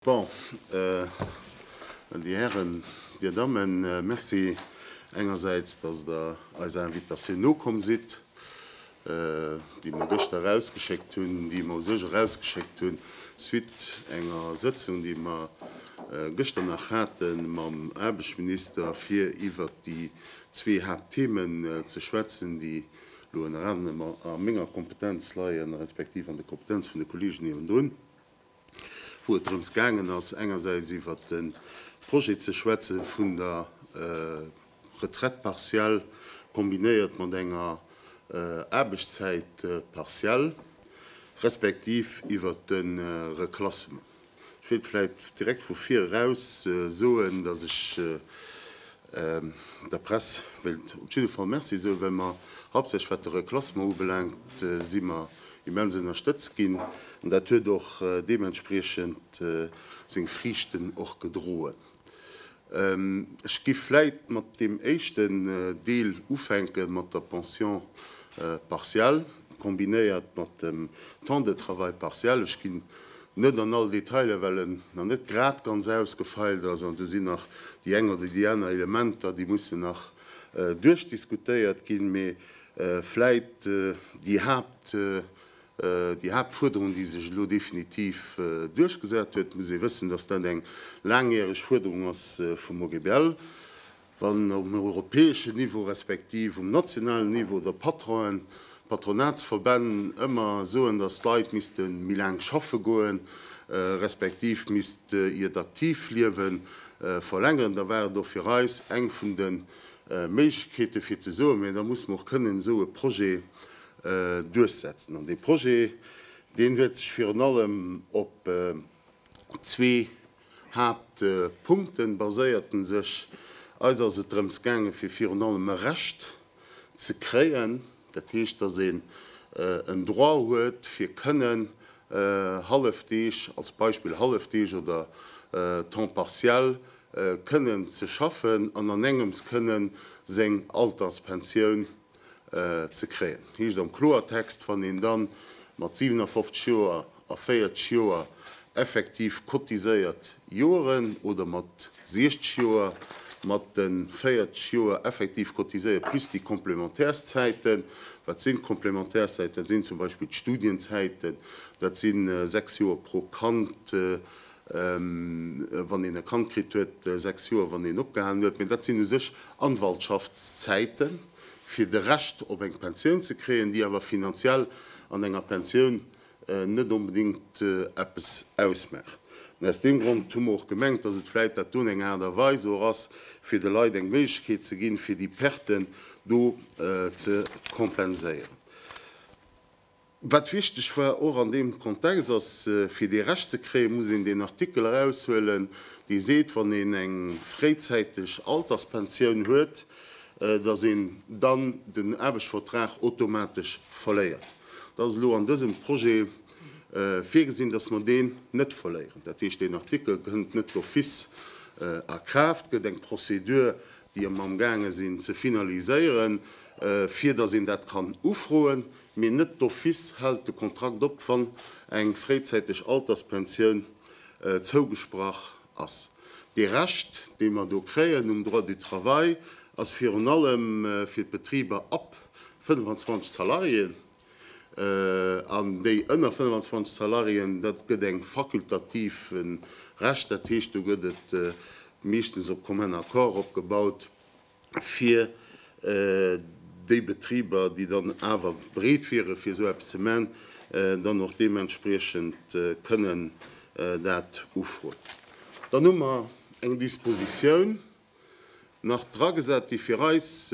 Bon, Dir Hären, Dir Dammen, merci engersäits, datt Der eiser Invitatioun nokomm sidd. déi mer gëschter erausgeschéckt hunn, déi mer u sech erausgeschéckt hunn, suite enger Sëtzung, déi mer gëschter nach hate mam Aarbechtsminister, fir iwwert déi zwee Haaptthemen ze schwätzen, déi elo ënner anerem a menger Kompetenz leien, respektiv an der Kompetenz vun de Kollegen niewendrun. wou et drëms gaangen ass, engersäits iwwert de Projet ze schwätze vun der Retraite partielle kombinéiert mat enger Aarbechtszäit partielle, respektiv iwwert de Reklassement. Ech wéilt vläicht direkt vu vir eraus soen, dass ech Der Press wéilt op jidde Fall Merci soe well mer, haaptsächlech wat de Reklassement ubelaangt, si mer immens ënnerstëtzt ginn an dat huet och deementspriechend seng Friichten och gedroen. Ech géif vläit mat deem éischten Deel ufänke mat der Pension partiale kombinéiert mat dem Temps de travail partiel. Ech ginn net an all Detailer, well en nach net grad ganz ausgefeilt ass an do sinn nach déi eng oder déi aner Elementer, déi mussen nach duerchdiskutéiert ginn. Mee vläit déi Haapt, déi Haaptfuerderung, déi sech elo definitiv duerchgesat huet, et muss ee wëssen, datt dat eng laangjäreg Fuerderung ass vum OGBL, Wann um europäeschen Niveau respektiv um nationalen Niveau der Patronen, d'Patronatsverbänn ëmmer soen, datt d'Leit misste méi laang schaffe goen, respektiv misst iert aktiivt Liewe verlängeren, da war et och fir eis eng vun de Méiglechkeete fir ze soen, mä da musse mer och kënnen esou e Projet duerchsetzen. An dee Projet, deen huet sech virun allem op. zwee Haaptpunkten baséierten sech. Eis ass et drëms gaangen, fir virun allem e Recht ze kréien, dat heescht, dass een en Droit huet, fir kënnen Hallefdeeg, als Beispill Hallefdeeg oder Temps partiel, kënnen ze schaffen an an engems kënnen seng Alterspensioun ze kréien. Heescht am Kloertext, wann een da mat 57 Joer a 40 Joer effektiv cotiséiert Joeren oder mat 60 Joer mat de 40 Joer effektiv cotiséiert plus déi Complémentaires-Zäiten. Wat sinn d'Complémentaires-Zäiten? Dat sinn zum Beispill d'Studienzäiten, dat si sechs Joer pro Kand, wann een e Kand kritt huet, sechs Joer, wann een opgehalen huet. Mä dat sinn u sech Anwaltschaftszäiten, fir de Recht op eng Pensioun ze kréien, déi awer finanziell an enger Pensioun net onbedéngt eppes ausmaacht. An aus deem Grond hu mer och gemengt, dass et vläit dat do eng Aart a Weis och ass, fir de Leit eng Méiglechkeet ze ginn, fir déi Perten do ze kompenséieren. Wat wichteg war och an deem Kontext ass, fir dee Recht ze kréien, muss een deen Artikel eraushuelen, dee seet, wann een eng fréizäiteg Alterspensioun huet, dass een dann den Aarbechtsvertrag automatesch verléiert. Da ass elo an dësem Projet virgesinn, dass mer deen net verléieren. Dat heescht, deen Artikel kënnt net d'office a Kraaft, gëtt eng Prozedur, déi mer amgaange sinn ze finaliséieren, fir dass een dat kann ufroen, mee net d'office hält de Kontrakt op, wann eng fréizäiteg Alterspensioun zougesprach ass. Dee Rescht, dee mer do kréien um Droit du travail, ass virun allem fir d'Betriber ab 25 Salariéen. An déi ënner 25 Salariéen, dat gëtt eng fakultativen Recht, dat heescht, do gëtt et meeschtens op commun accord opgebaut, fir déi Betriber, déi dann awer bereet wieren, fir esou eppes ze maachen, dann och deementspriechend kënnen dat ufroen. Dann hu mer eng Dispositioun nach dragesat, déi fir eis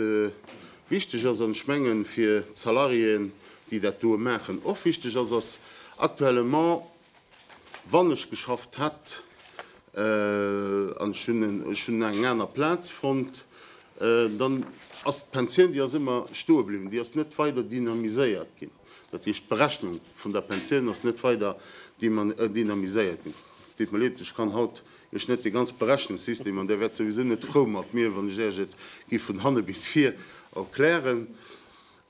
wichteg ass an ech mengen, fir d'Salariéen, déi dat doe maachen, och wichteg ass, ass, Actuellement Wann ech geschafft hätt an ech hunn eng aner Plaz fonnt, dann ass d'Pensioun, déi ass ëmmer stoe bliwwen. Déi ass net weider dynamiséiert ginn. Dat heescht, d'Berechnung vun der Pensioun ass net weider dynamiséiert ginn. Et deet mir leed, ech kann haut Iech net dee ganze Berechnungssystem, an Dir wäert souwisou net frou mat mir, wann ech Iech et giff vun hanne bis vir erklären.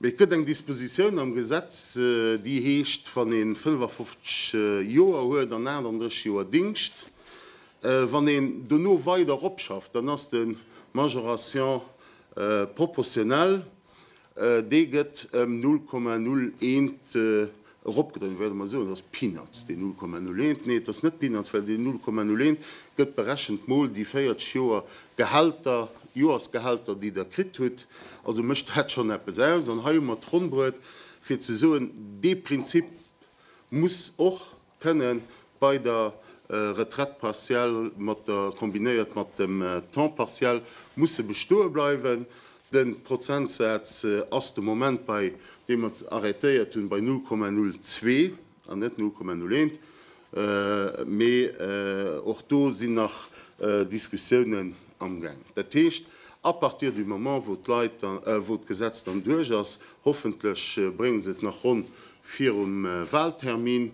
Mee et gëtt eng Dispositioun am Gesetz, déi heescht, wann ee 55 Joer huet an 38 Joer Dingscht, wann een dono weider eropschafft, dann ass de Majoration proportionnelle, dee gëtt ëm 0,01 Eropgedréint wäerte mer soen, dass Peanuts, déi 0,01, nee, et ass net Peanuts, well déi 0,01 gëtt berechent mol déi 40 Joer Gehälter, Joersgehälter, déi Der kritt hutt, also mécht dat schonn eppes aus. An hei hu mer d'Ronnbret, fir ze soen, dee Prinzip muss och kënne bei der Retraite partielle mat der, kombinéiert mat dem Temps partiel, musse bestoe bleiwen. De Prozentsaz ass de Moment bei, dee mer arrêtéiert hunn, bei 0,02 an net 0,01. Mee och do sinn nach Diskussiounen amgaang. Dat heescht, à partir du moment, wou d'Leit, wou d'Gesetz dann duerch ass, hoffentlech bréngen se et nach ronn virum Wahltermin,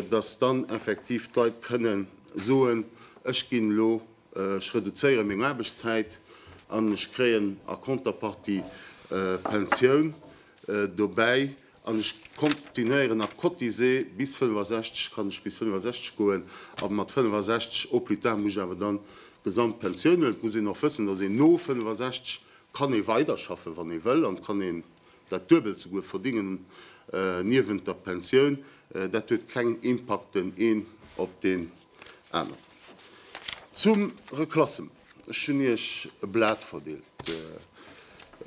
dass dann effektiv d'Leit kënnen soen, Ech ginn elo Ech reduzéiere meng Aarbechtszäit an ech kréien a Contrepartie Pensioun dobäi an ech continuéieren a cotisé bis 65, kann ech bis 65 goen a mat 65 au plus tard muss ech awer dann d'gesamt Pensioun huelen. Et muss een och wëssen, dass een no 65 kann ee weiderschaffen, wann ee wëll an et kann een dat Duebelt souguer verdingen niewent der Pensioun. Dat huet keng Impakten een op deen aneren. Zum Reclassement, ech hunn Iech e Blat verdeelt.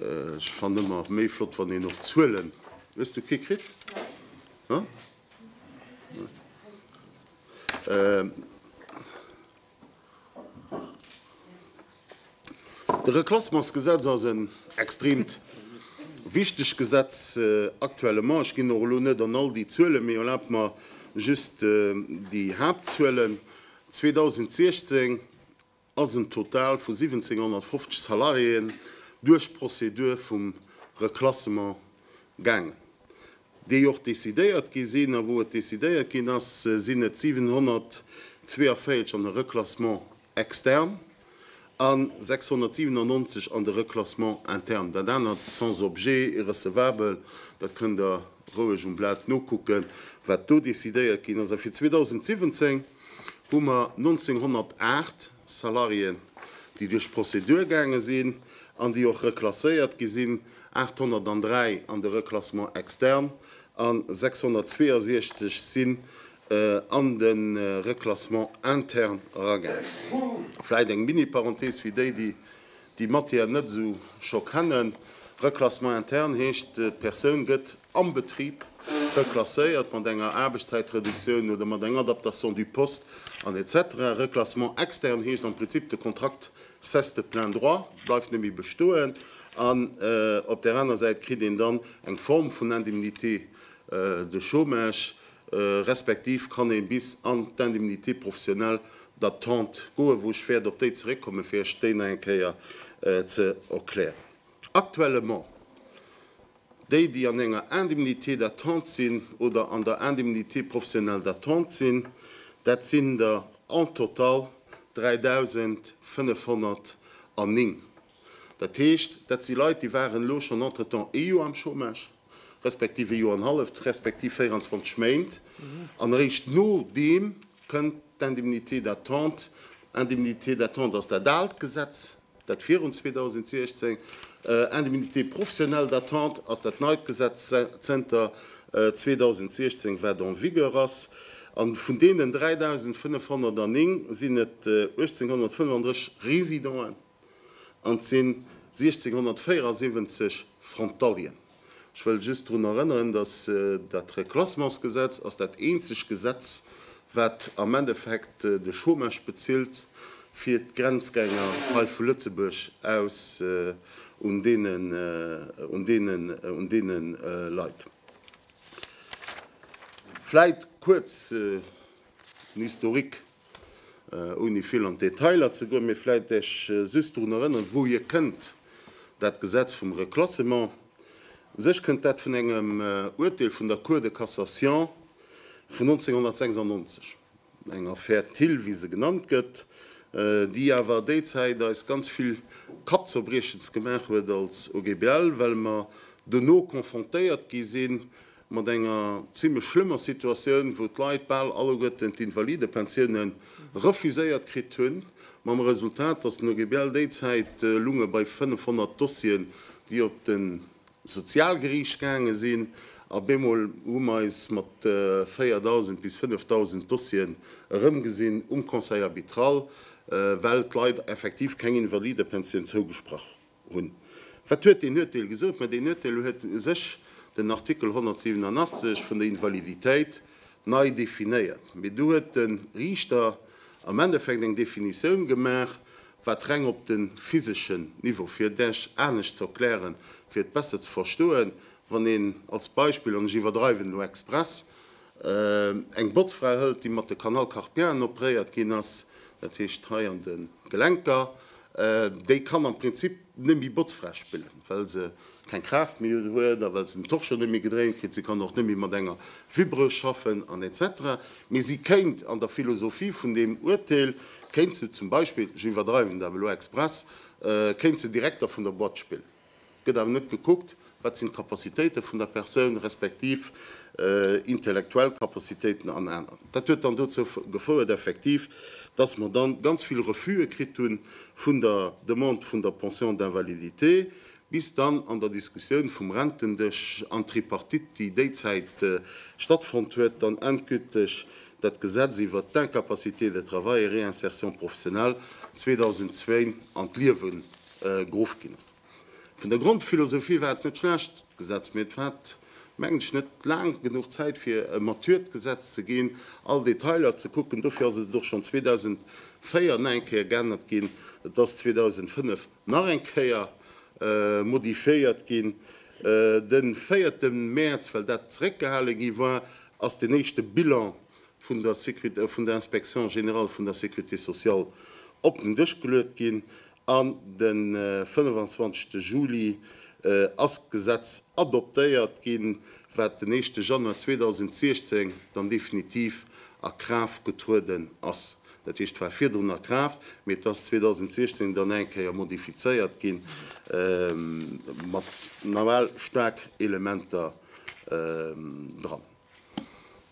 Ech fannen ëmmer méi flott, wann een och Zuelen, hues du kee kritt? Nein. Nein. De Reklassementsgesetz ass en extreemt wichteg Gesetz aktuellement. Ech ginn och elo net an all déi Zuelen, mee erlaabt mer just déi Haaptzuelen, 2016 ass en Total vu 1750 Salariéen duerch d'Prozedur vum Reklassement gaangen, déi och decidéiert gi sinn. A wou et decidéiert ginn ass, sinn et 742 an e Reklassement extern, a 697 an de Reclassement interne. Dat anert sans objet, irrecevabel, dat kënnt Der roueg um Blat nokucken, wat do decidéiert ginn ass. A fir 2017 hu mer 1.908 Salariéen, déi duerch d'Prozedur gaange sinn an déi och reklasséiert gi sinn, 803 an de Reclassement externe a 662 si an de Reclassement interne eragaangen. Vläit eng Mini-Parenthese fir déi, déi déi Matière net esou scho kennen, Reclassement interne heescht, d'Persoun gëtt am Betrib reklasséiert mat enger Aarbechtszäitreduktioun oder mat eng Adaptation du poste an etc. Reclassement externe heescht am Prinzip, de Kontrakt cesse de plein droit, bleift net méi bestoen, an op där aner Säit kritt een dann eng Form vun Indemnité de chômage, respektiv kann ee bis an d'Indemnité professionnelle d'attente goen, wou ech wäert op déi zeréckkommen, fir Iech déi nach eng Kéier ze erklären. Actuellement, déi, déi an enger Indemnité d'attente sinn oder an der Indemnité professionnelle d'attente sinn, dat sinn der en total 3.509. Dat heescht, dat si Leit, déi waren elo schonn entretemps ee Joer am Chômage. respektiv ee Joer an halleft, respektiv 24 Méint, an eréischt no deem kënnt d'Indemnité d'attente. Indemnité d'attente ass dat aalt Gesetz, dat virun 2016. Indemnité professionnelle d'attente ass dat neit Gesetz zënter 2016, wat en vigueur ass. A vun deenen 3.509 sinn et 1.835 Résidenten, An et sinn 1674 Frontalieren. Ech wëll just drun erënneren, datt dat Reclassementsgesetz ass dat eenzeg Gesetz, wat am Endeffekt de Chômage bezilt fir d'Grenzgänger hei vu Lëtzebuerg aus un deene Leit. Vläit kuerz en Historique. Ouni vill an d'Detailer ze goen, mee vläit Iech just drun erënneren, wou hir kënnt, dat Gesetz vum Reclassement. U sech kënnt dat vun engem Uerteel vun der Cour de Cassation vun 1996, eng Affaire Thill, wéi se genannt gëtt, déi awer déi Zäit eis ganz vill Kappzerbriechens gemaach huet als OGBL, well mer dono confrontéiert gi sinn mat enger zimlech schlëmmer Situatioun, wou d'Leit bal alleguerten d'Invalidepensioune refuséiert kritt hunn, mam Resultat, datt den OGBL déi Zäit elunge bei 500 Dossieren, déi op de Sozialgeriicht gaange sinn, a bemol hu mer eis mat 4.000 bis 5.000 Dossieren erëmgesinn um Conseil arbitral, well d'Leit effektiv keng Invalidepensioun zougesprach hunn. Wat huet deen Urteel gesot? Mä deen Urteel huet u sech den Artikel 187 vun der Invaliditéit nei definéiert. Mee do huet de Riichter am Endeffekt eng Definitioun gemaach, wat reng op de physeschen Niveau, fir et Iech anescht ze erklären, fir et besser ze verstoen, wann een als Beispill, an ech iwwerdreiwen elo express, Eng Botzfra hëlt déi mat de Canal carpienne opréiert ginn ass, dat heescht hei an de Gelenker, déi kann am Prinzip net méi Botzfra spillen, well se keng Kraaft méi huet a well se den Torchon net méi gedréint kritt. Se kann och net méi mat enger Vibreuse schaffen an etc. Mee si kéint an der Philosophie vun deem Uerteel, kéint se zum Beispill, ech iwwerdreiwen dat elo express, kéint se direkt da vun der Boîte spillen. gëtt awer net gekuckt, wat sinn d'Capacitéite vun der Persoun, respektiv intellektuell Capacitéiten an aner. Dat huet dann dozou gefouert effektiv, dass mer dann ganz vill Refuse kritt hu vun der Demande vun der Pension d'invalidité, bis dann an der Diskussioun vum Rentendësch an Tripartite, déi déizäit stattfonnt huet, dann endgülteg dat Gesetz iwwert d'Incapacité de travail et réinsertion professionnelle 2002 an d'Liewe Geruff ginn ass. Vun der Grondphilosophie war et net schlecht, d'Gesetz, mee et hat, mengen ech, net laang genuch Zäit, fir e mature Gesetz ze ginn, all Detailer ze kucken. Dofir ass et och schonn 2004 nach eng Kéier geännert ginn, et ass 2005 nach eng Kéier modifiéiert ginn. De véierte Mäerz, well dat zeréckgehale gi war, ass den éischte Bilan vun der Inspection générale vun der Sécurité sociale op den Dësch geluet ginn. An de 25 Juli ass d'Gesetz adoptéiert ginn, wat den éischte Januar 2016 dann definitiv a Kraaft getrueden ass. Dat heescht, et war virdrun a Kraaft, mee et ass 2016 dann nach eng Kéier modifizéiert ginn, mat nawell staark Elementer dran.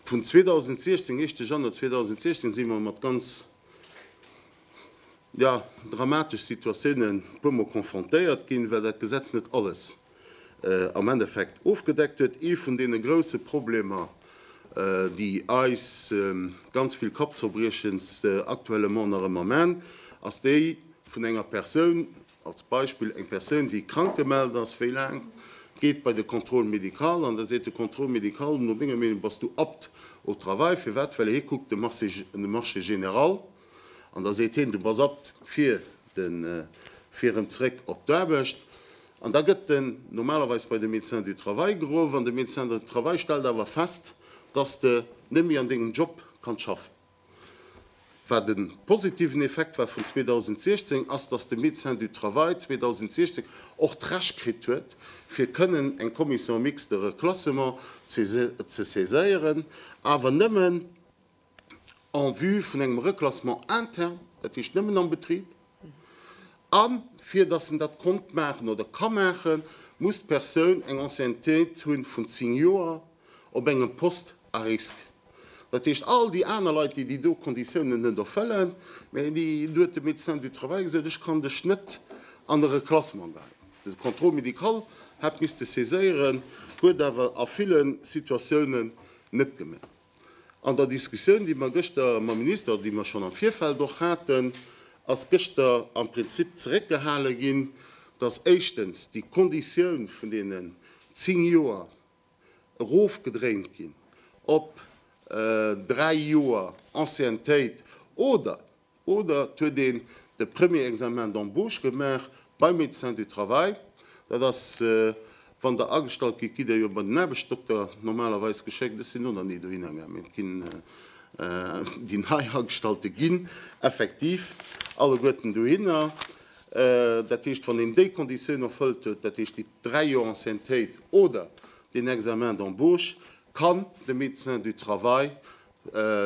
Vun 2016, éischte Januar 2016, si mer mat ganz jo dramatesch Situatiounen puer mol confrontéiert ginn, well dat Gesetz net alles am Endeffekt ofgedeckt huet. Ee vun deene grouse Problemer, déi eis ganz vill Kappzerbriechens actuellement nach ëmmer man, ass déi vun enger Persoun, als Beispill eng Persoun, déi krank gemellt ass, wéi laang geet bei de Contrôle médical an da seet de Contrôle médical, no menger Meenung bass du apte au travail. Firwat? Well hie kuckt de Marché général. An da seet hien, du bass abt fir den, fir erëm zréck op d'Aarbecht. An da gëtt en normalerweis bei de Médecin du travail geruff. An de Médecin du travail stellt awer fest, dass de net méi an dengem Job kanns schaffen. Wat e positiven Effekt war vun 2016, ass, dass de Médecin du travail 2016 och d'Recht kritt huet, fir kënnen eng Commission mixte de reclassement ze saiséieren, awer nëmmen, en vue vun engem Reclassement interne, dat heescht nëmmen am Betrib, a fir dass en dat konnt maachen oder ka maachen, muss d'Persoun eng Anciennetéit hu vun zéng Joer op engem Poste à risque. Dat heescht, all déi aner Leit, déi déi do Konditiounen net erfëllen, mä déi, do huet de Médecin du travail gesot, ech kann dech net an e Reclassement leien. De Contrôle médical hätt misste saiséieren, huet awer a ville Situatiounen net gemaach. An der Diskussioun, déi mer gëschter mam Minister, déi mer schonn am Virfeld och haten, ass gëschter am Prinzip zeréckgehale ginn, dass éischtens déi Konditioun vun deenen zéng Joer erofgedréint ginn op dräi Joer Anciennetéit oder Oder et huet een de Premier Examen d'embauche gemaach beim Médecin du travail. Dat ass, wann Der agestallt gitt, gitt Der jo bei den Aarbechtsdokter normalerweis geschéckt. Ech sinn do nach ni dohinner gaangen, mee et ginn déi nei Agestallte ginn effektiv alleguerten dohinner. Dat heescht, wann een déi Konditioun erfëllt huet, dat heescht déi dräi Joer Anciennetéit oder deen Examen d'embauche, kann de Médecin du travail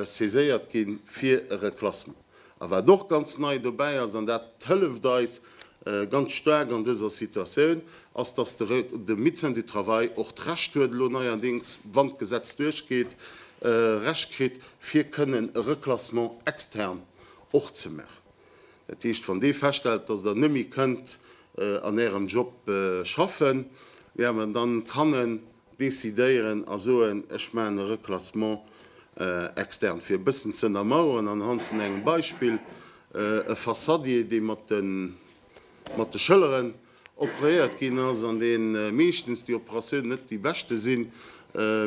saiséiert gi fir e Reklassement. A wat och ganz nei dobäi ass, an dat hëlleft eis ganz staark an dëser Situatioun, ass, dass de Médecin du Travail och d'Recht huet, elo neierdéngs, wann d'Gesetz duerchgeet, Recht kritt, fir kënnen e Reklassement extern och ze maachen. Dat heescht, wann dee feststellt, dass Der net méi kënnt an Ärem Job schaffen, ja mä dann kann en decidéieren a soen, ech maachen e Reclassement externe fir e bëssen ze ënnermaueren anhand vun engem Beispill, e Fassadier dee mat de Schëlleren opréiert ginn ass an dee meeschtens, déi Operatioun net déi beschte sinn,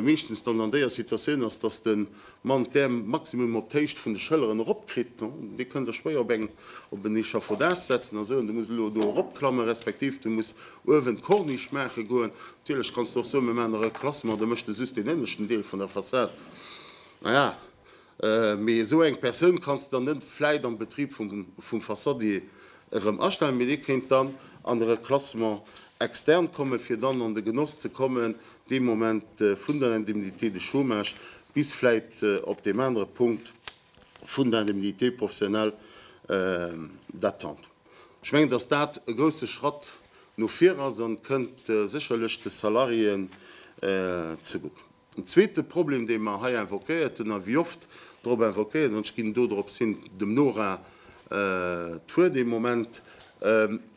meeschtens dann an déier Situatioun ass, datt de Mann, dee Maximum op d'Héicht vun de Schëlleren eropkritt, dee kënnt da schwéier op en op en Échafaudage setzen a soen, du muss elo do eropklammen, respektiv du muss uewen d'Corniche maache goen. Natierlech kanns du och soen, mir maachen nach e Klassement, da méchs de just deen ënneschten Deel vun der Fassad. Naja, mee esou eng Persoun kanns de dann net vläit am Betrib vum Fassadier erëm astellen, mee dee kéint dann an de Reclassement externe kommen, fir dann an de Genoss ze kommen dee Moment vun der Indemnité de chômage bis vläit op deem anere Punkt vun der Indemnité professionnelle d'attente. Ech mengen, dass dat e grousse Schratt no vir ass a kënnt sécherlech de Salariéen zegutt. En zweete Problem, dee mer hei invoquéiert hunn a wéi oft drop invoquéiert, an ech ginn dodrops hin, dem Nora d'Wuert ee Moment,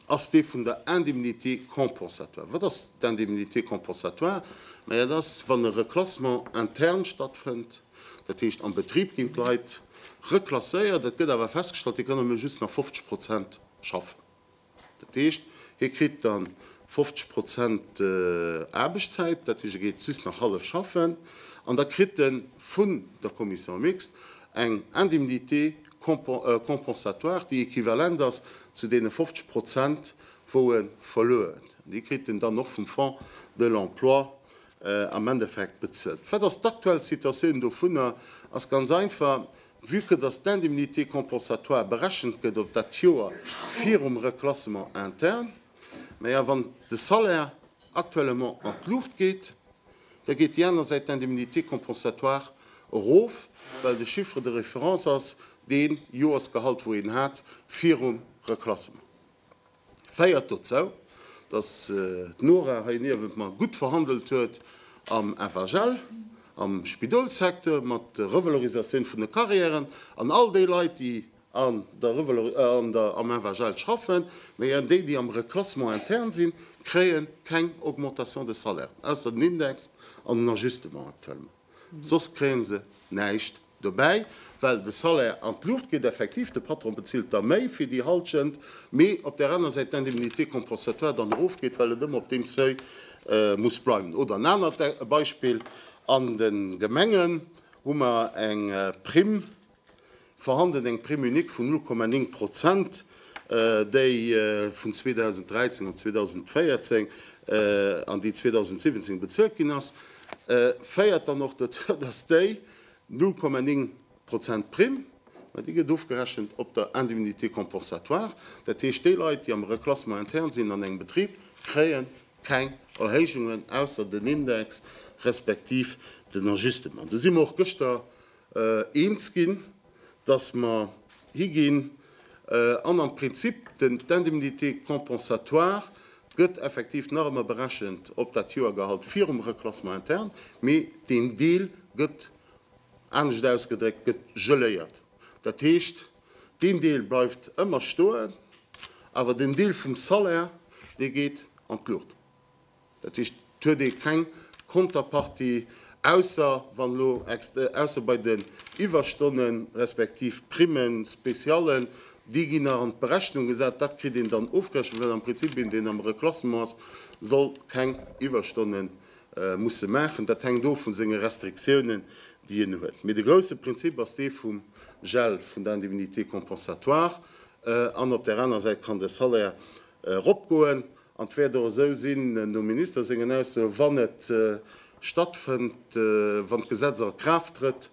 ass dee vun der Indemnité compensatoire. Wat ass d'Indemnité compensatoire? Mä dat ass, wann e Reclassement interne stattfënnt, dat heescht am Betrib ginn d'Leit reklasséiert, et gëtt awer festgestallt, hie kann nëmme just nach 50 Prozent schaffen. Dat heescht, hie kritt dann 50 Prozent Aarbechtszäit, dat heescht, e geet just nach hallef schaffen, an da kritt e vun der Commission mixte eng Indemnité compensatoire, déi equivalent ass zu deene 50 Prozent, wou e verluer huet. An déi kritt en dann och vum Fonds de l'emploi am Endeffekt bezuelt. Wat ass d'aktuell Situatioun dovunner? Ass ganz einfach, Vue que dass d'Indemnité compensatoire berechent gëtt op dat Joer virum Reclassement interne, mä a wann de Salaire actuellement an d'Luucht geet, da geet déi aner Säit d'Indemnité compensatoire erof, well de Chiffre de référence ass dee Joersgehalt, wou een hat virum Reclassement. féiert dozou, dass d'Nora hei niewent mer gutt verhandelt huet am FHL, am Spidolssecteur, mat der Revalorisatioun vun de Carrièren an all déi Leit, déi an der, am FHL schaffen, mä déi, déi am Reclassement interne sinn, kréie keng Augmentation de salaire, ausser den Index an den Ajustement actuellement. soss kréie se näischt dobäi, well de Salaire an d'Luucht geet. Effektiv, de Patron bezilt da méi fir déi Hallschent, mee op där aner Säit d'Indemnité compensatoire dann erofgeet, well et ëmmer op deem Seuil muss bleiwen. Oder en anert Beispill, An de Gemengen hu mer eng Primm, Vorhanden eng Prime unique vun 0,9 Prozent, déi vun 2013 an 2014 an déi 2017 bezuelt ginn ass, féiert dann och dozou, dass déi 0,9 Prozent Prime, mä déi gëtt ofgerechent op der Indemnité compensatoire, dat heescht, déi Leit, déi am Reclassement interne sinn an engem Betrib, kréie keng Erhéijungen, ausser den Index respektiv den Ajustement. Do si mer och gëschter eens ginn, dass mer higinn an am Prinzip d'Indemnité compensatoire gëtt effektiv nach ëmmer berechent op dat Joergehalt virum Reclassement interne, mee deen Deel gëtt, anescht ausgedréckt, gëtt geléiert. Dat heescht, deen Deel bleift ëmmer stoen, awer den Deel vum Salaire, dee geet an d'Luucht. Dat heescht, et huet ee keng Konterpartie, ausser wann elo, ausser bei den Iwwerstonnen, respektiv Primen spécialen, déi ginn nach an d'Berechnung gesat, dat kritt een dann ofgerechent, well am Prinzip een, deen am Reklassement ass, soll keng Iwwerstonnen musse maachen. Dat hänkt of vu senge Restriktiounen, déi en huet. Mee de grousse Prinzip ass dee vum Gel vun der Indemnité compensatoire an op där aner Säit kann de Salaire eropgoen An et wäert och esou sinn, nom Minister sengen Aussoe wann et stattfënnt, wann d'Gesetz a Kraaft trëtt,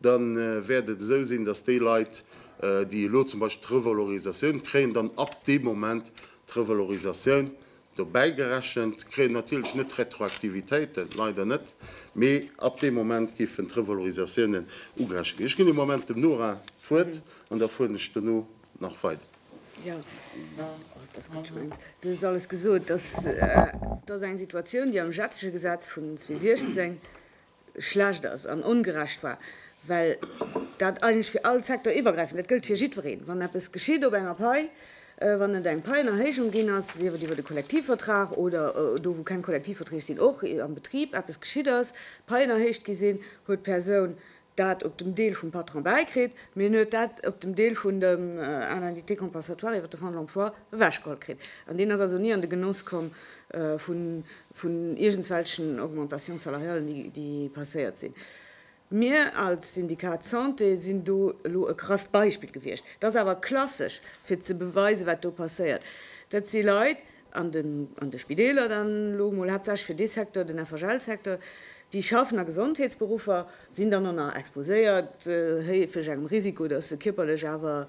da wäert et esou sinn, datt déi Leit, déi elo zum Beispill d'Revalorisatioun kréien, dann ab deem Moment d'Revalorisatioun dobäi gerechent kréien, natierlech net d'Retroaktivitéiten, leider net, mee ab deem Moment géifen d'Revalorisatiounen ugerechent ginn. Ech ginn e Moment dem Nora d'Wuert an da fueren ech dono nach weider. Jo, et ass gutt, ech mengen, do ass alles gesot. Dass dass eng Situatioun, déi am jetzege Gesetz vun 2016 schlecht ass an ongerecht war, well dat eigentlech fir all Secteur iwwergräifend, dat gëllt fir jiddwereen, wann eppes geschitt op enger Pai, wann et eng Paienerhéijung ginn ass, sief et iwwer de Kollektivvertrag oder do, wou keng Kollektivverträg sinn, och am Betrib eppes geschitt ass, Paien erhéicht gi sinn, huet d'Persoun dat op dem Deel vum Patron bäikritt, mee en huet dat op dem Deel vun dem Indemnité compensatoire iwwert de Fonds de l'emploi ewechgeholl kritt. An deen ass also ni an de Genoss komm vun iergendswelchen Augmentations salariales, déi passéiert sinn. Mir als Syndikat Santé sinn do elo e krasst Beispill gewiescht. Dat ass awer klassesch, fir ze beweisen, wat do passéiert. Dat si Leit, an de an de Spideeler dann elo emol haaptsächlech fir dee Secteur, den FHL-Secteur, déi schaffen a Gesondheetsberuffer sinn dann och nach exposéiert héifeg engem Risiko, datt se kierperlech awer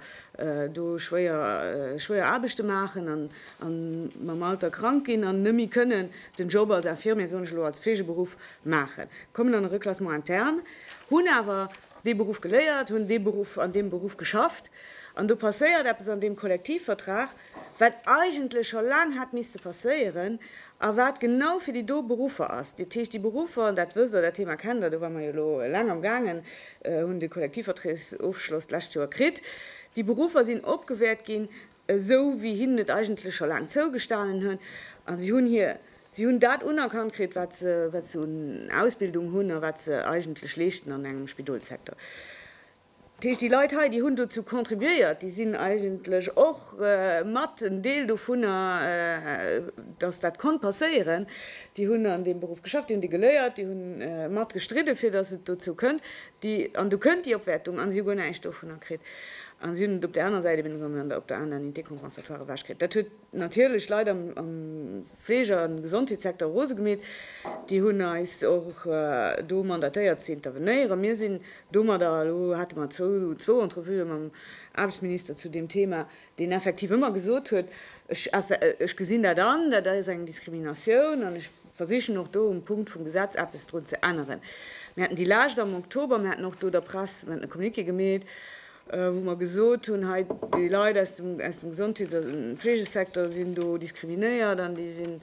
do schwéier schwéier Aarbechte maachen an a mam Alter krank ginn an net méi kënnen den Job als Infirmier, soen ech elo, als Fleegeberuff maachen, kommen an e Reclassement interne, hunn awer dee Beruff geléiert, hunn dee Beruff an deem Beruff geschafft an do passéiert eppes an deem Kollektivvertrag, wat eigentlech scho laang hätt misste passéieren a wat genau fir déi do Beruffer ass. Dat heescht, déi Beruffer, an dat wësst Der, dat Thema kennt Der, do ware mer jo elo laang am gaangen, hunn de Kollektivverträgsofschloss d'lescht Joer kritt, déi Beruffer sinn opgewäert ginn, esou wéi hinnen et eigentlech scho laang zougestanen hunn, a si hunn hir, si hunn dat unerkannt kritt, wat se, wat se un Ausbildung hunn a wat se eigentlech leeschten an engem Spidolssektor. Dat heescht, déi Leit hei, déi hunn dozou contribuéiert, déi sinn eigentlech och mat en Deel dovunner, dass dat konnt passéieren. Déi hunn an deem Beruff geschafft, déi hunn dee geléiert, déi hu mat gestridde fir dass et dozou kënnt. Déi, an do kënnt déi Opwäertung, a si hu guer näischt dovunner kritt a si hunn et op där aner Säit eben op der aner Unité compensatoire ewechkritt. Dat huet natierlech Leit am. Fleeg an Gesondheetssecteur rose gemeet. Déi hunn eis och do mandatéiert ze intervenéieren. Mir sinn domadder, elo hate mer zwou Entrevuë mam Aarbechtsminister zu deem Thema, deen effektiv ëmmer gesot huet, ech gesinn dat an, dat ass eng Diskriminatioun an ech versichen och do um Punkt vum Gesetz eppes drun ze änneren. Mir haten déi Lescht am Oktober, mir haten och do der Press, mir haten e Communiqué gemeet wou mer gesot hunn, hei déi Leit aus dem Gesondheets a Fleegesecteur sinn do diskriminéiert an déi sinn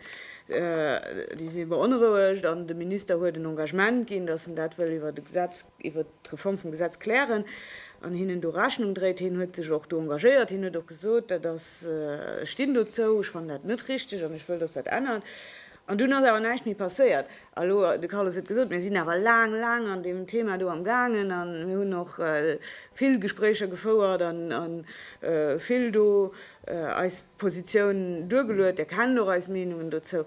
beonrouegt an de Minister huet en Engagement ginn, datt en dat wëll iwwert e Gesetz, iwwert d'Reform vum Gesetz klären an hinnen do Rechnung dréit. Hien huet sech och do engagéiert. Hien huet och gesot, dat ass, ech stinn dozou, ech fannen dat net richtig an ech wëll, datt dat ännert. An dunn ass awer näischt méi passéiert. A lo, de Carlos huet gesot, mir sinn awer laang, laang an deem Thema do am gaangen a mir hunn och vill Gespréicher gefouert a vill do eis Positioun duergeluet. Dir kennt och eis Meenungen dozou.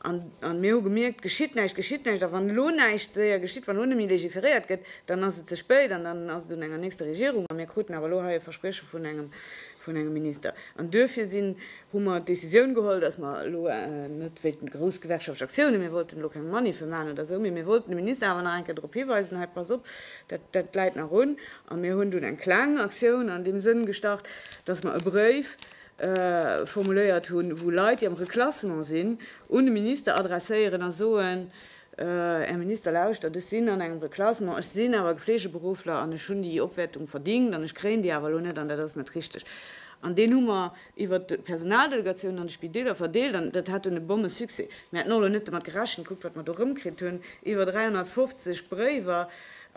An mir hu gemierkt, geschitt näischt, geschitt näischt. A wann elo näischt séier geschitt, wann elo net méi legiferéiert gëtt, dann ass et ze spéit an dann ass et un enger nächster Regierung. A mir kruten awer elo hei e Versprieche vun engem vun engem Minister. An duerfir sinn, hu mer d'Décisioun geholl, dass mer elo net wéilten grouss gewerkschaftlech Aktiounen, mir wollten elo keng Maniffen maachen oder esou, mee mir wollten de Minister awer nach eng Kéier drop hiweisen, hei, pass op, dat, dat läit nach un. A mir hunn dunn eng kleng Aktioun an deem Sënn gestart, dass mer e Bréif formuléiert hunn, wou Leit, déi am Reklassement sinn, un de Minister adresséieren a soen, Här Minister, lauschtert, ech sinn an engem Reklassement, ech sinn awer Geflegeberuffler an ech hunn déi Opwäertung verdingt an ech kréien déi awer elo net an dat ass net richteg. An deen hu mer iwwert d'Personaldelegatiounen an de Spideeler verdeelt an dat hat un e Bonne Succès. Mir haten och elo net domat gerechent, kuckt wat mer do erëmkritt hunn, iwwer 350 Bréiwer,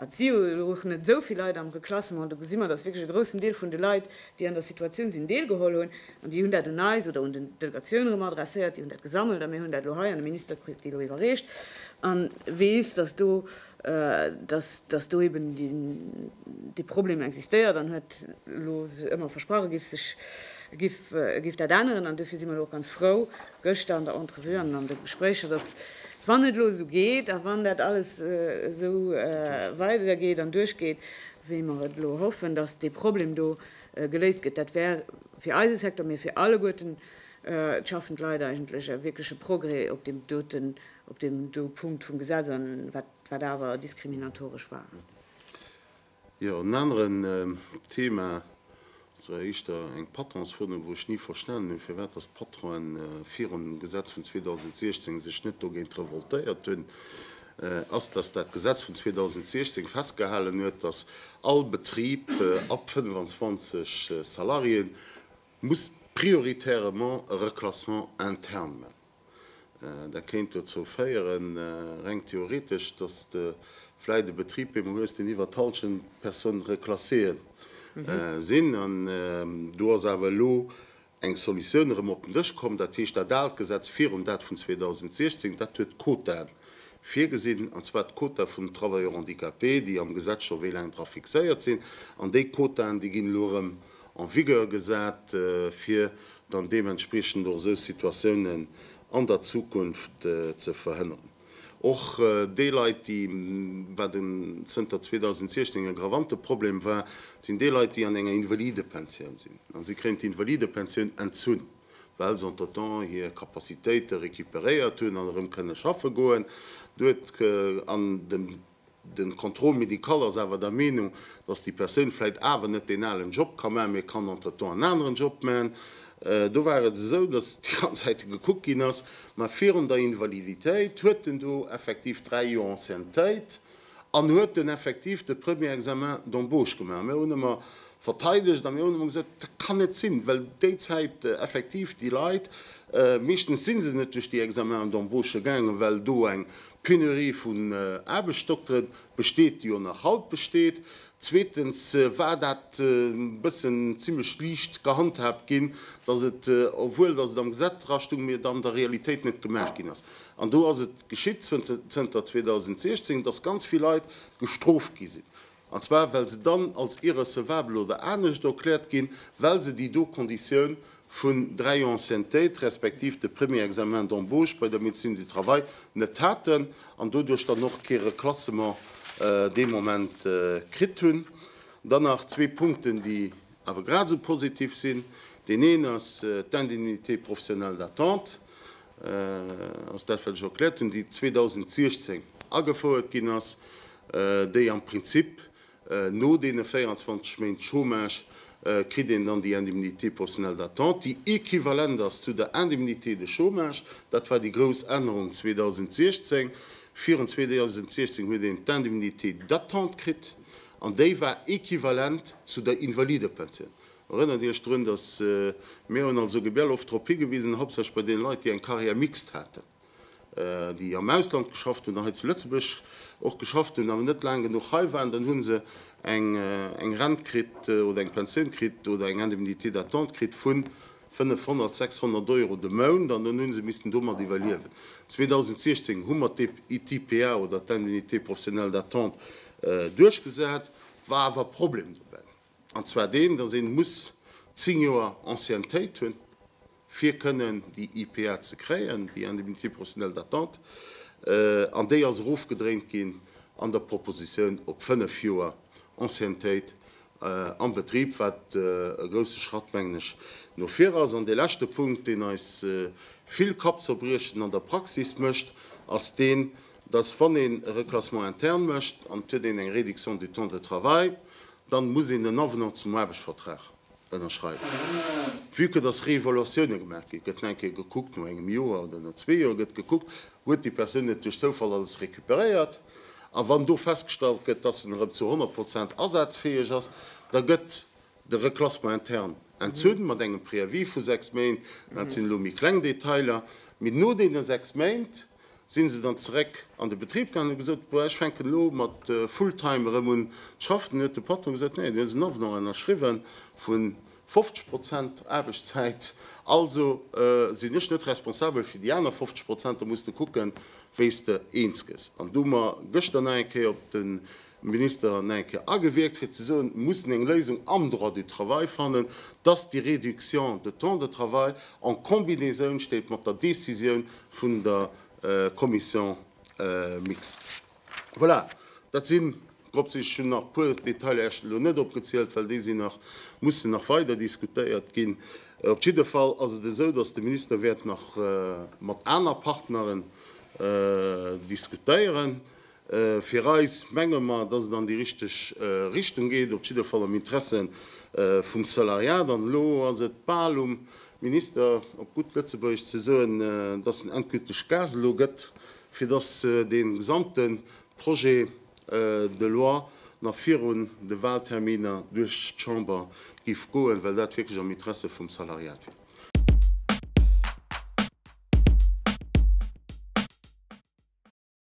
et si jo elo och net esou vill Leit am Reklassement, do gesi mer, datt wierklech e groussen Deel vun de Leit déi an der Situatioun sinn, deelgeholl hunn, an déi hunn dat un eis oder un den d'Delegatioun erëm adresséiert, déi hunn dat gesammelt a mir hunn dat elo hei an de Minister kritt déi elo iwwerreecht an weess, dass do, dass, dass do eben dee Problem existéiert an huet elo sech ëmmer versprach, e géif sech, e géif, e géif dat änneren. An duerfir si mer elo och ganz frou gëschter an der Entrevue an an de Gespréicher, dass, wann et elo esou geet a wann dat alles esou weidergeet an duerchgeet, wéi mer et elo hoffen, datt dee Problem do geléist gëtt, dat wär fir eise Secteur, mee fir alleguerten d'schaffend Leit eigentlech e wierkleche Progrès op deem doten, op deem do Punkt vum Gesetz an wat, wat awer diskriminatoresch war. Jo, en aneren Thema Sou heescht der, eng Patron's Foto, wou ech ni verstanen hunn, firwat dass d'Patronen virun dem Gesetz vun 2016 sech net dogéint revoltéiert hunn, ass, dass dat Gesetz vun 2016 festgehalen huet, dass all Betrib ab 25 Salariéen muss prioritairement e Reclassement interne man. Dat kéint dozou féieren, reng theoretesch, dass de vläit e Betrib bemol hues, deen iwwert d'Halschent Personnes reclassées sinn. An do ass awer elo eng Solutioun erëm op den Dësch komm, dat heescht dat aalt Gesetz virum, dat vun 2016, dat huet Quotaen virgesinn, an zwar d'Quota vun den Travailleurs handicapés, déi am Gesetz scho wéi laang dra fixéiert sinn. An déi Quotaen, déi ginn elo erëm. en vigueur gesat, fir dann deementspriechend och esou Situatiounen an der Zukunft ze verhënneren. Och déi Leit, déi, wat en zënter 2016 en aggravante Problem war, sinn déi Leit, déi an enger Invalidepensioun sinn. A si kréien d'Invalidepensioun entzunn, well se entretemps hir Capacitéite recuperéiert hunn an erëm kënne schaffe goen. Do huet an dem. De Contrôle médical ass awer der Meenung, dass déi Persoun vläicht awer net deen alen Job ka maachen, mee kann entretemps en aneren Job maachen. Do war et esou, dass déi ganz Zäite gekuckt ginn ass, mä virun der Invaliditéit huet en do effektiv dräi Joer Anciennetéit an huet den effektiv de Premier Examen d'embauche gemaach. Mir hunn ëmmer verteidegt a mir hunn ëmmer gesot, dat kann net sinn, well déi Zäit effektiv déi Leit, meeschtens si se net duerch déi Examenen d'embauche gaangen, well do eng D'Penurie vun Aarbechtsdokteren besteet, déi och nach haut besteet. Zweetens war dat e bëssen zimmlech liicht gehandhaabt ginn, dass et, obwuel dass et am Gesetz dra stung, mee et an der Realitéit net gemaach ginn ass. An do ass et geschitt, zënter 2016, dass ganz vill Leit gestrooft gi sinn, an zwar well se dann als irrecevabel oder anescht erkläert ginn, well se déi do Konditioun vun dräi Anciennetéit respektiv de Premier Examen d'embauche bei der Médecine du Travail net haten an doduerch dann och kee Reclassement dee Moment kritt hunn. Dann nach zwee Punkten, déi awer grad esou positiv sinn. Deen een ass d'Indemnité professionnelle d'attente, ass dat, wat ech erkläert hunn, déi 2016 agefouert ginn ass, déi am Prinzip no deene 24 Méint Chômage kritt een dann déi Indemnité personnelle d'attente, déi equivalent ass zu der Indemnité de chômage. Dat war déi grouss Ännerung 2016. Virun 2016 huet een d'Indemnité d'attente kritt an déi war equivalent zu der Invalidepensioun. Erënnert Iech drun, dass mir hunn als OGBL oft drop higewisen, hauptsächlech bei deene Leit, déi eng Carrière mixte haten, déi am Ausland geschafft hunn a hei zu Lëtzebuerg och geschafft hunn, awer net laang genuch hei waren, dann hu se eng Rent kritt oder eng Pensioun kritt oder eng Indemnité d'attente kritt vu 500, 600 Euro de Mount an dann hu se missten domat iwwerliewen. 2016 hu mer d'ITPA oder d'Indemnité professionnelle d'attente duerchgesat, war awer e Problem dobäi. An zwar deen, dass ee muss zéng Joer Anciennetéit hunn, fir kënnen déi IPA ze kréien, déi Indemnité professionnelle d'attente, an déi ass erofgedréint ginn an der Propositioun op fënnf Joer Anciennetéit am Betrib, wat e grouse Schratt, mengen ech, no vir ass. An dee leschte Punkt, deen eis vill Kappzerbriechen an der Praxis mécht, ass deen, dass wann een e Reclassement interne mécht an et huet een eng Réduction du temps de travail, dann muss een en Avenant zum Aarbechtsvertrag ënnerschreiwen. Vue que dass Réévaluatiounen gemaach ginn, gëtt eng Kéier gekuckt, no engem Joer oder no zwee Joer gëtt gekuckt, huet déi Persoun net duerch Zoufall alles récupéréiert. A wann do festgestallt gëtt, dass en erëm zu 100 Prozent asazfäeg ass, da gëtt De Reclassement interne entzunn, mat engem Préavis vu sechs Méint, dat sinn elo méi kleng Detailer, mee no deene sechs Méint si se dann zeréck an de Betrib gaangen, hu gesot, boah, ech fänken elo mat full-time erëm un ze schaffen. Dunn huet de Patron gesot, nee, du hues en Avenant ënnerschriwwe vu 50 Prozent Aarbechtszäit, also sinn ech net responsabel fir déi aner 50 Prozent, da muss de kucken, wéi s de eens gëss. An do hu mer gëschter nach eng Kéier op de Minister Nijcke agewierkt, fir ze soen, mir mussen eng Léisung am Droit du travail fannen, dass déi Réduction de temps de travail en combinaison steet mat der Décisioun vun der Commission mixte. Voilà, dat sinn grob ze. Ech hunn nach e puer Detailer esch elo net opgezielt, well déi sinn nach, mussen nach weider diskutéiert ginn. Op jidde Fall ass et esou, dass de Minister wäert nach mat aner Partneren diskutéieren. Fir eis, menge mer, dass et an déi richteg Richtung geet, op jidde Fall am Interesse vum Salariat. An elo ass et bal um Minister, op gutt Lëtzebuergesch ze soen, dass en endgülteg Gas elo gëtt, fir dass dee gesamte Projet de loi nach virun de Wahlterminer duerch d'Chamber géif goen, well dat wierklech am Interesse vum Salariat wier.